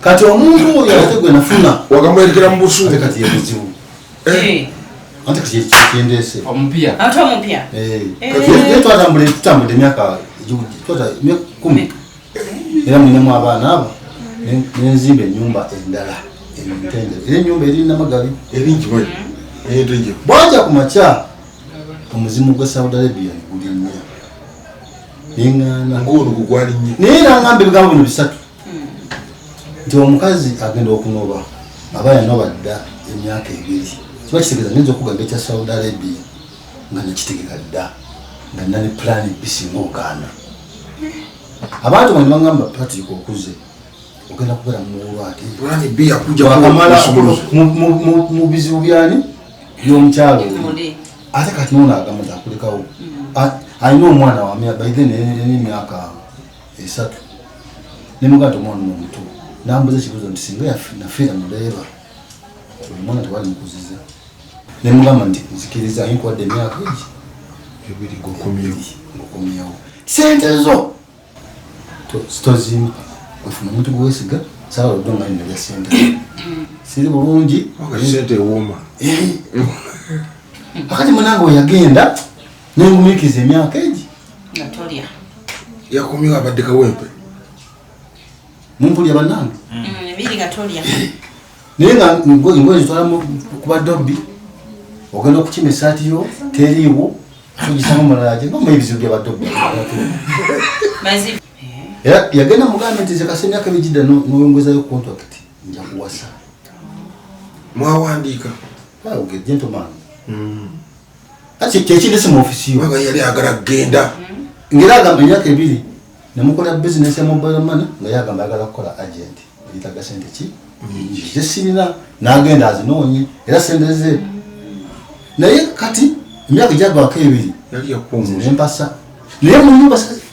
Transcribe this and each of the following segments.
kati omuntu oyo ate gwe nafuna wagamwerekera mu busu ate kati yebuzibu eh. eh. ate kati kyendeese omupya ate omupya eh. twatambula tutambudde emyaka kumi era mulinemu abaana abo nenzimba enyumba endala entende era enyumba eri namagali ebingi mm-hmm. bwaja ku makya omuzimu gwa saudi arabia negulinnya neŋaana naye era ngamba ebigambo bino bisatu nti omukazi agenda okunoba aba yanoba dda emyaka ebiri kiba kitegeeza nyinza okugamba ekya saudi arabia nga nekitegeka dda nga nina ne pulaani bisinga ogaana abantu bano bagamba patrick okuze ogenda kubeera muwulwateakamalamu bizibu byani byomukyalo ate kati nona agamba nti akulekawo mm. alina omwana wamya baithe neyemyaka esatu ne muganda omwana omuto nambuza ekibuzo nti singa nafiira muleeba oyo mwana tewali mukuziza ne mugamba nti nzikiriza aye nkuwadde emyaka egi ebiri ngokomyewo sente zo tozimba ofuna omuntu gwewesiga sawa lodde omani nalya sente siri bulungi sente ewooma eh. akati munange weyagenda nengumikiza emyaka egi nga tolya yakomyewo abadde kawempe mumpulya banange mm. mm, ebiri nga tolya naye nga ngoye zitwala kuba dobbi ogenda okukima esaati yo teriiwo ogisamu mulalaje ngoma ebizibu bya badobbi era yagenda mugambe nti zekasa emyaka migidda noyongezayo contract nja kuwasa mwawandiika gentleman mm. kati kyekindese mu ofisi yo baba yali agala kugenda ngera agamba emyaka ebiri nemukola bizinesi ya mobile money nga yagamba agala kukola agent yitaga sente ki zesirina nagenda azinoonye era sente ze naye kati emyaka gyagwako ebiri nempasa naye munyumba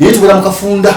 Yeye tubera mukafunda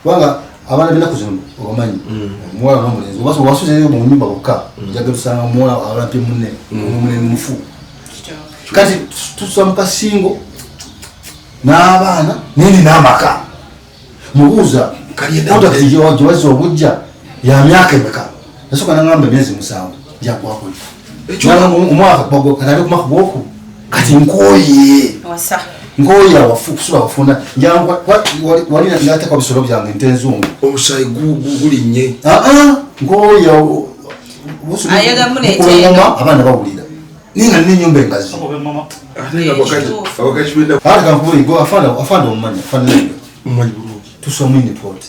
kubanga abana bina kuzino obamanyi mm. muwala no mulenzi obaso wasuze yo mu nyumba bokka mm. njaga tusanga muwala abana pye munne omune mm. mufu kati tuswa mukasingo n'abaana nini n'amaka mubuuza kaliyedaaotakijowazi obujja ya myaka emeka nasoka nangamba emyezi musanvu njakwakuli omwaka bagwakanabe kumaka gwoku kati nkoye nkoye awafu kusula wafuna wali natekwa bisolo byange nte enzungu omusayi gulinye nkoye abaana bawulira ninga nina enyumba engazi afande omumanya afande tusomini poti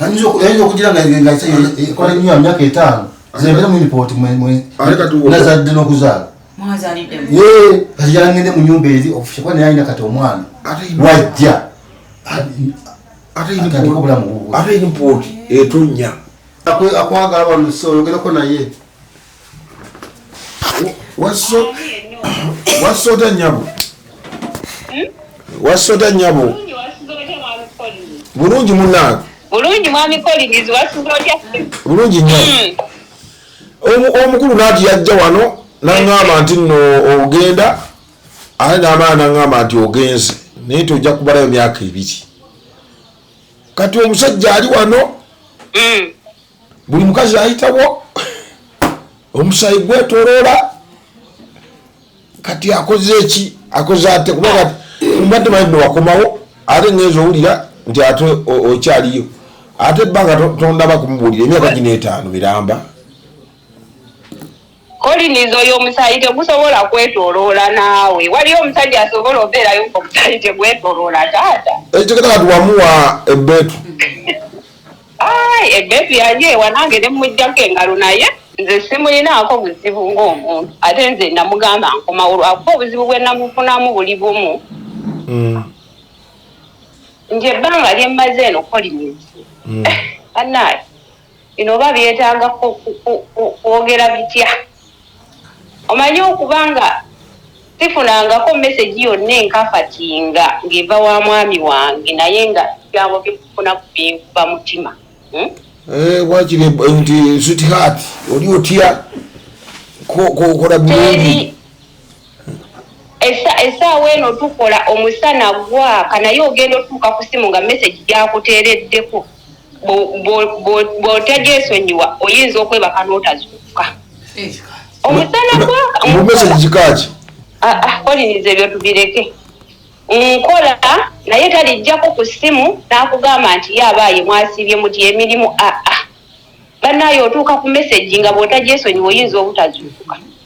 ayinza okugira ngaekola nyo myaka etaano zebere mu ripoti nazadde n'okuzaala kati yangende mu nyumba eri ofushe kuba naye alina kati omwana wajja atandika obulamu bubwe ate ripoti etonya akwagala balusi oyogereko naye wasota nyabo wasota nyabo bulungi munange bulungi mwami Collins wasuza otya bulungi nyo hmm. omukulu naati yajja wano naŋŋamba nti nno ogenda ate n'abaana naŋŋamba nti ogenze naye ti ojja kubalayo myaka ebiri kati omusajja ali wano hmm. buli mukazi ayitawo omusayi gwetoloola kati akoze eki akoze ate kuba kati mbadde manyi newakomawo ate ngenza owulira nti ate okyaliyo ate ebbanga tondaba kumubuulira emyaka gino etaano miramba Collins oyo omusaayi tegusobola kwetoloola naawe. Waliyo omusajja asobola obeerayo ng'omusaayi tegwetoloola taata? Ekigenda kati wamuwa ebbeetu. Ai ebbeetu yali ewa nange ne mmuggyako engalo naye nze simulinaako buzibu ng'omuntu ate nze namugamba nkomawo lwakuba obuzibu bwe namufunamu buli bumu hmm. nti ebbanga lyemmaze eno Collins hmm. anaayi bino oba byetaaga kwogera bitya? Omanyi okuba nga sifunangako mesegi yonna enkakati nga ng'eva wa mwami wange naye nga ebigambo bye mufuna binkuba mutima. Hmm? Eh, wakiri eh, nti sweetheart oli otya kola bulungi Essa essaawa eno tukola omusana gwaka naye ogenda otuuka ku ssimu nga message gyakuteereddeko bwo bwo bwo bwotagyesonyiwa oyinza okwebaka n'otazuukuka. Omusana gwaka Mbu message nkola kika ki? ah ah Collins ebyo tubireke nkola naye talijjako ku ssimu n'akugamba nti ye abaaye mwasiibye muti emirimu ah ah bannaaye otuuka ku message nga bwotagyesonyiwa oyinza obutazuukuka.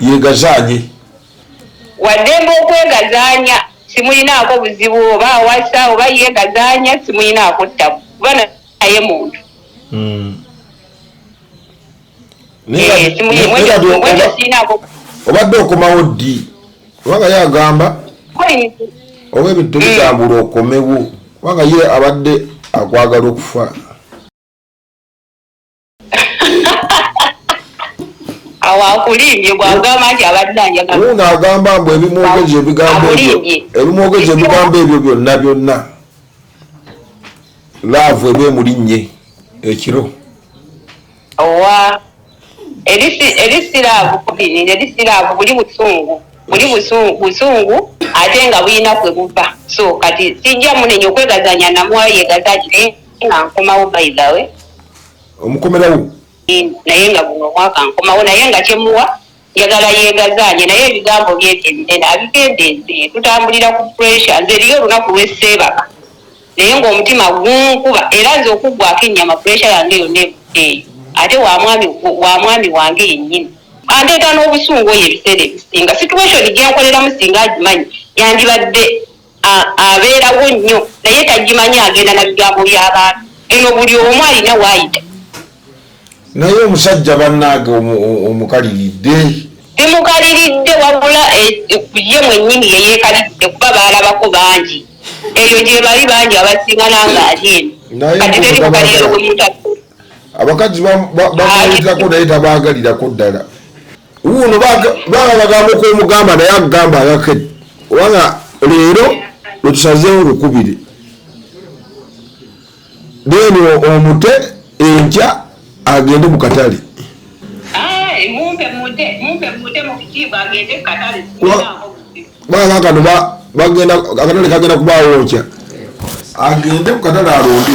yegazaanye waddembe okwegazaanya simulinaako buzibu oba awasa oba yeegazaanya simulinaako ttabu kuba naye muntu hmm. eh, obadde okomawo ddi kubanga ye agamba oba ebintu tebitambula hmm. okomewo kubanga ye abadde akwagala okufa awakulimbye gwagamba nti abadde anjagauno agamba mbu ebimwogeje ebigambo ebimwogeje ebigambo ebyo byonna byonna laavu eba emulinnye ekiro owa erisiraavu kubiri erisiraavu buli busungu buli busungu ate nga bulina kwe buva so kati sijja munenya okwegazanya namwayegazanye nga nkomawo by the way omukomerawo naye nga guno omwaka nkomawo naye nga kyemuwa njagala yegazaanye naye ebigambo byekyebinene abigenda enze tutambulira ku pressure nze eriyo olunaku lweseebaka naye ngaomutima gunkuba era nze okuggwako ennyama pressure yange yonna ebuddeeyo ate wa mwami wange yennyini andeeta n'obusungu oyo ebiseera ebisinga situation gyenkoleramu singa agimanyi yandibadde abeerawo nnyo naye tagimanyi agenda na bigambo by'abantu eno buli omu alina waayita naye omusajja bannaage omukaliridde bimukaliridde wabula eh, ye mwennyini yeyeekaliridde kuba baalabako bangi eyo gye bali bangi abasinga nanga ali eno kati teri mukaliriro gwe mutatu abakazi bamwayitako naye tabaagalirako ddala wuuno baba bagamba okwomugamba naye akugamba agakedi kubanga leero lwetusazeewo lukubiri then omute enkya agende mu katale baakano bagenda akatale kagenda kubaawo nkya agende ku katale alonde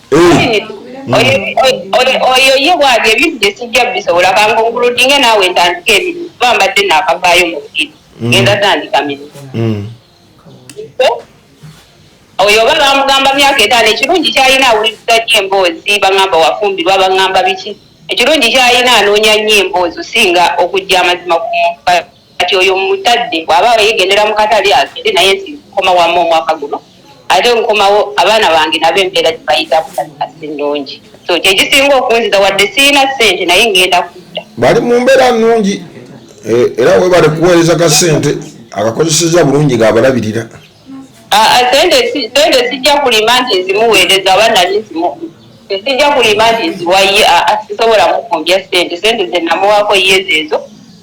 oyo ye bwali ebintu byesijja bisobola kangonguludinge naawe ntandika ebintu kuba mbadde naakavaayo mu bukiri genda tandika mirimu oyo oba bamugamba myaka etaano ekirungi kyalina awuliriza nyo emboozi bagamba wafumbirwa bagamba biki ekirungi kyalina anoonya nyo emboozi osinga okujja amazima ku muntu kati oyo mutadde bwaba yegendera mukatale agende naye nsi nkoma wamu omwaka guno ate nkomawo abaana bange nabo embeera gyebayita kutakasi nnungi so kyekisinga okunziza wadde sirina sente naye ngenda kudda bali mu mbeera nnungi e, era webale kuweereza ka sente akakozeseza bulungi ngaabalabirira sente sijja kulima nti nzimuweereza aba nali nzimu sijja kulima nti nziwaye sisobola mukumbya sente sente zenamuwaako yezeezo